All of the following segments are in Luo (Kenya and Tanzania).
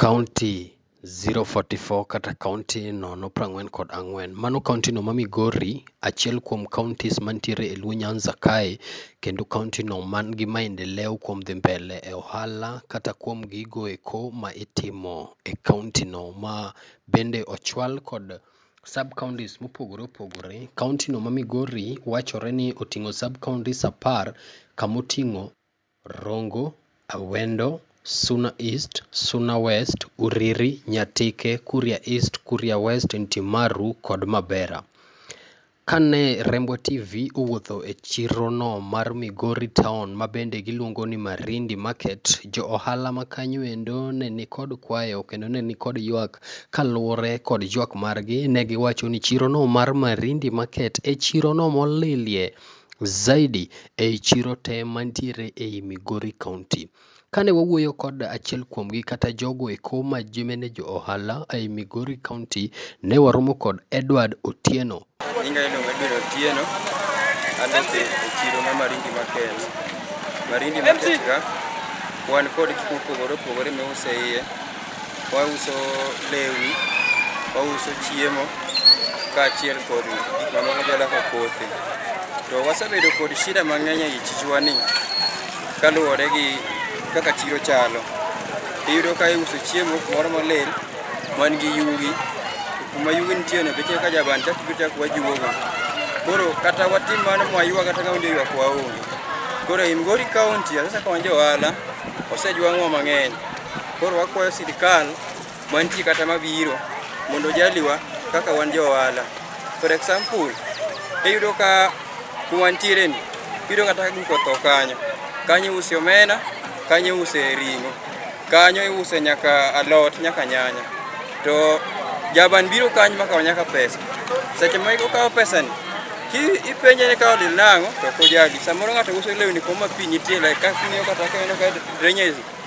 Kaunti 044 kata kaunti nono prang'wen kod ang'wen. Mano kaunti no ma Migori, achiel kuom kauntis mantiere e Luo Nyanza kae, kendo kaunti no man gi maendeleo kuom dhi mbele e ohala kata kuom gigo eko ma itimo e kaunti no. Ma bende ochwal kod sub kauntis mopogore opogore. Kaunti no ma Migori wachore ni oting'o sub kauntis apar kamoting'o. Rongo, Awendo, Suna East, Suna West, Uriri, Nyatike, Kuria East, Kuria West, Ntimaru kod Mabera. Kane Rembwa TV owuotho e chirono mar Migori Town ma bende giluongo ni Marindi Market, jo ohala ma kanyo endo ne nikod kwayo kendo ne nikod ywak kaluwore kod ywak margi ne giwacho ni chirono mar Marindi Market e chirono molilie Zaidi ei chiro te mantiere ei Migori County. Kane wawuoyo kod achiel kuomgi kata jogo eko ma jomene jo ohala ei Migori County, ne waromo kod Edward Otieno. Nyinga iluongo Edward Otieno, aloso e chiro ma Marindi Market. Marindi Market ka wan kod gik mopogore opogore miuse iye. Wauso lewni, wauso chiemo kaachiel kod gik mamoko jala kaka kothe. To wasebedo kod shida mang'eny ei chichwa ni kaluwore gi kaka chiro chalo. Iyudo ka iuso chiemo kumoro molil man gi yugi, to kuma yugi nitie no beche ka jaban chak biro chak wajuogo. Koro kata watim mano mwaywa kata ng'ama oywa waonge. Koro e Migori kaunti sasa ka wan jo ohala osejwang'wa mang'eny. Koro wakwayo sirkal mantie kata mabiro mondo jaliwa kaka wan jo ohala. For example, iyudo ka kumantiere ni iyudo kata guko tho kanyo kanyo iuse omena kanyo iuse ring'o kanyo iuse nyaka alot nyaka nyanya to jaban biro kanyo makawo nyaka pesa seche ma okawo pesani ipenje ni kawo lil nang'o to kojali samoro ng'ato uso lewni koma pi nitie like kaka kata ka ineno ka drainage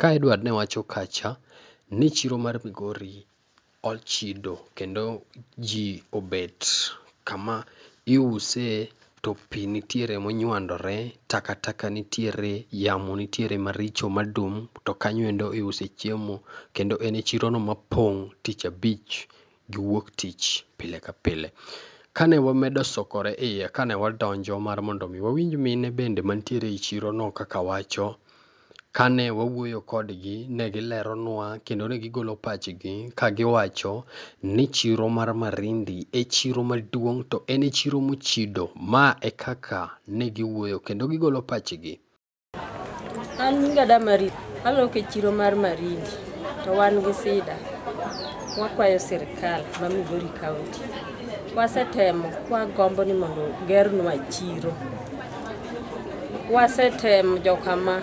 Ka Edward ne wacho kacha ni chiro mar Migori ochido kendo ji obet kama iuse to pi nitiere monywandore, takataka nitiere, yamo nitiere maricho madum to kanyo endo iuse chiemo kendo en e chirono mapong' tich abich. giwuok tich pile ka pile. Kane wamedo sokore iye kane wadonjo mar mondo mi wawinj mine bende mantiere ei chirono kaka wacho, kane wawuoyo kodgi ne gileronwa kendo ne gigolo pachgi ka giwacho ni chiro mar Marindi e chiro maduong' to en e chiro mochido. Ma e kaka ne giwuoyo kendo gigolo pachgi. An nyinga da Marie, alok e chiro mar Marindi to wan gi sida. Wakwayo sirkal ma Migori County. Wasetemo kwagombo ni mondo ogernwa chiro. Wasetemo jokama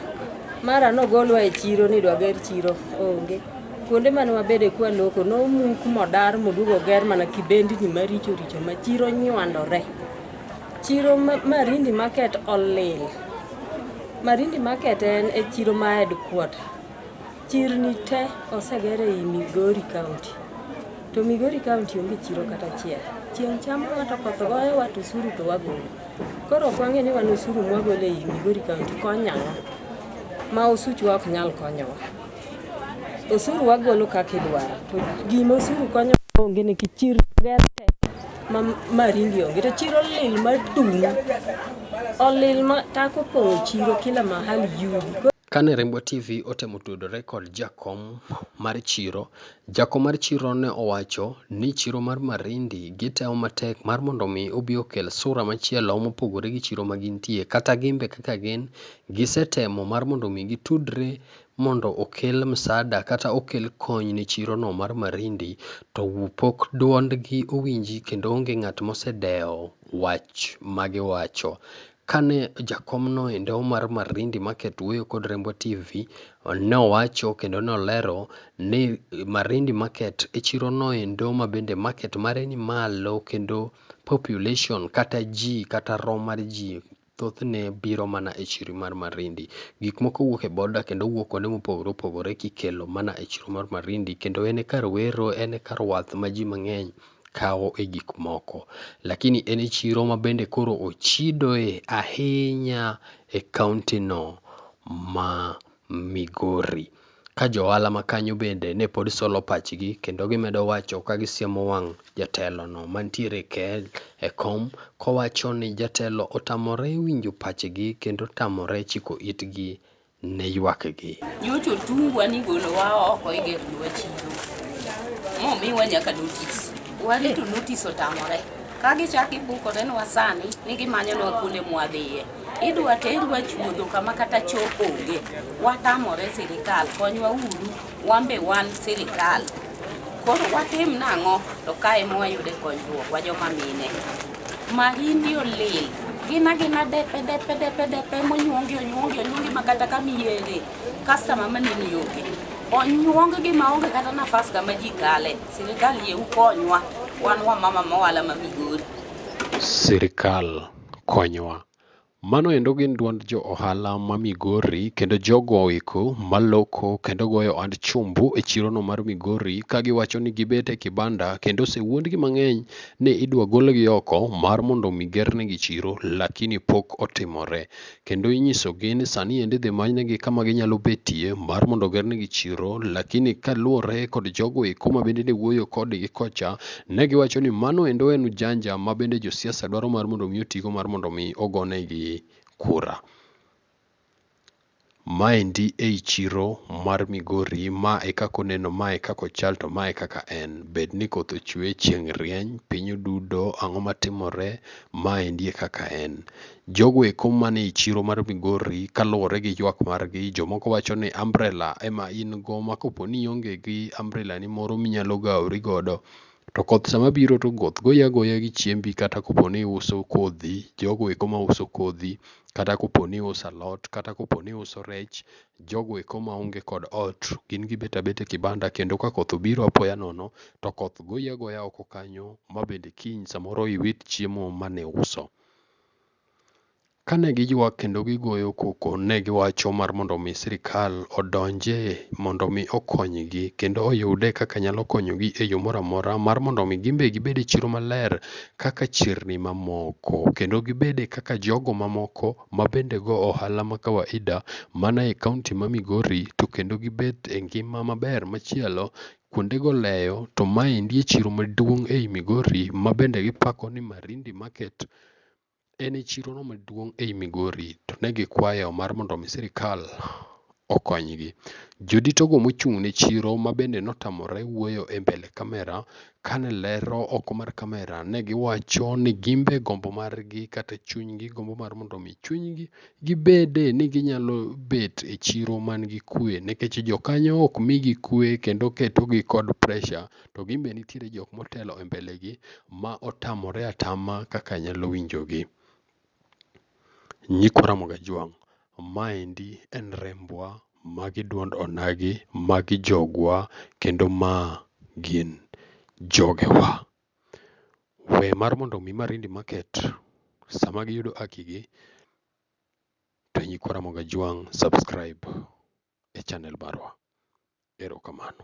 mara nogolwa e chiro ni dwager chiro onge. Kuonde mane wabede kwa loko nomuk modar moduog oger mana kibendni maricho richo ma chiro nywandore. Chiro ma Marindi Market olil. Marindi Market en e chiro ma headquarter. Chirni te oseger ei Migori County. To Migori County onge chiro kata achiel. Chieng' chamo ng'ato koth goyo wat osuru to wagolo. Koro ok wang'e ni wan osuru mwagolo ei Migori County konyo ang'o? Ma osuchwa ok nyal konyowa. Osuru wagolo kaka idwaro. To gima osuru konyo onge ni kichir ger te ma ma ringi onge to chiro lil ma dum. Olil ma tako pong'o chiro kila mahali yugi. Kane Rainbow TV otemo tudore kod jakom mar chiro, jakom mar chiro ne owacho ni chiro mar Marindi gitemo matek mar mondo mi obi okel sura machielo mopogore gi chiro ma gintie. Kata gimbe kaka gin, gisetemo mar mondo mi gitudre mondo okel msada kata okel kony ne chiro no mar Marindi to pok duond gi owinji kendo onge ng'at mosedewo wach magiwacho. Kane jakom no endo mar Marindi Market wuoyo kod Rembwa TV, ne owacho kendo ne olero ni Marindi Market e chiro no endo ma bende market mare ni malo kendo population kata ji kata rom mar ji thothne biro mana e chiri mar Marindi. Gik moko wuok e border kendo wuok kuonde mopogore opogore kikelo mana e chiro mar Marindi kendo en e kar wero, en e kar wath ma ji mang'eny kawo e gik moko. Lakini en e chiro ma bende koro ochidoe ahinya e kaontino ma Migori. Ka jo ohala ma kanyo bende ne pod solo pachgi kendo gimedo wacho ka gisiemo wang' jatelo no mantiere kel e kom kowacho ni jatelo otamore winjo pachgi kendo tamore chiko itgi ne ywak gi. Nyocha otungwa ni golowa oko e gate dwa chiro. Momiwa nyaka notice. Warito notice otamore. Ka gichak gibukore nwa sani ni gimanyonwa kuonde mwadhiye. idwa terwa chuodho kama kata cho onge watamore sirikal konywa uru wambe wan sirikal koro watim nang'o to kae mwayude konyruok wa joma mine marindi olil gina gina depe depe depe depe monyuongi onyuongi onyuongi ma kata kama iyere kastama manini onge onyuonggi ma onge kata nafas kama ji kale sirikal yie ukonywa wan wamama mowala ma migori sirikal konywa. Mano endo gin duond jo ohala ma Migori kendo jogo eko maloko kendo goyo ohand chumbu e chirono mar Migori ka giwacho ni gibet e kibanda kendo osewuondgi mang'eny ni idwa golgi oko mar mondo omi gernegi chiro lakini pok otimore. kendo inyisogi ni sani endi idhi manynegi kama ginyalo betie mar mondo ogernegi chiro lakini kaluwore kod jogo eko ma bende ne wuoyo kodgi kocha ne giwacho ni mano endo en ujanja ma bende josiasa dwaro mar mondo mi otigo mar mondo mi ogonegi kura maendi ei chiro mar Migori ma e kaka oneno ma e kaka ochal to ma e kaka en bed ni koth ochwe chieng' rieny piny odudo ang'o matimore maendi e kaka en Jogo eko mane e chiro mar Migori kaluwore gi ywak margi, jomoko wacho ni umbrella ema in go ma kopo ni ionge gi umbrella ni moro minyalo gawori godo to koth sama biro to koth goyi agoya gi chiembi kata kopo ni iuso kodhi, jogo eko ma uso kodhi kata kopo ni iuso alot kata kopo ni iuso rech, jogo eko ma onge kod ot gin gibet abeta e kibanda kendo ka koth obiro apoya nono to koth goyi agoya oko kanyo ma bende kiny samoro iwit chiemo mane iuso. Kane giywak kendo gigoyo koko, ne giwacho mar mondo mi sirkal odonje mondo mi okonygi kendo oyude kaka nyalo konyogi e yo moro amora mar mondo mi gin be gibed e chiro maler kaka chirni mamoko kendo gibed kaka jogo mamoko ma bende go ohala ma kawaida mana e kaonti ma Migori to kendo gibet e ngima maber machielo Kuondego leyo to maendi e chiro maduong' ei Migori ma bende gipako ni Marindi Market en e chirono maduong' ei Migori to ne gikwayo mar mondo omi sirikal okonygi. Joditogo mochung' ne chiro ma bende notamore wuoyo e mbele kamera kane lero oko mar kamera ne giwacho ni gin be gombo margi kata chunygi gombo mar mondo omi chunygi gibede ni ginyalo bet e chiro man gi kwe nikech jokanyo ok migi kwe kendo ketogi kod pressure to gin be nitiere jok motelo e mbele gi ma otamore atama kaka nyalo winjo gi. Nyikwa Ramogi Ajwang', maendi en rembwa, magi duond onagi, magi jogwa kendo ma gin jogewa. We mar mondo omi marindi market sama giyudo haki gi to nyikwa Ramogi Ajwang' subscribe e channel marwa. Erokamano.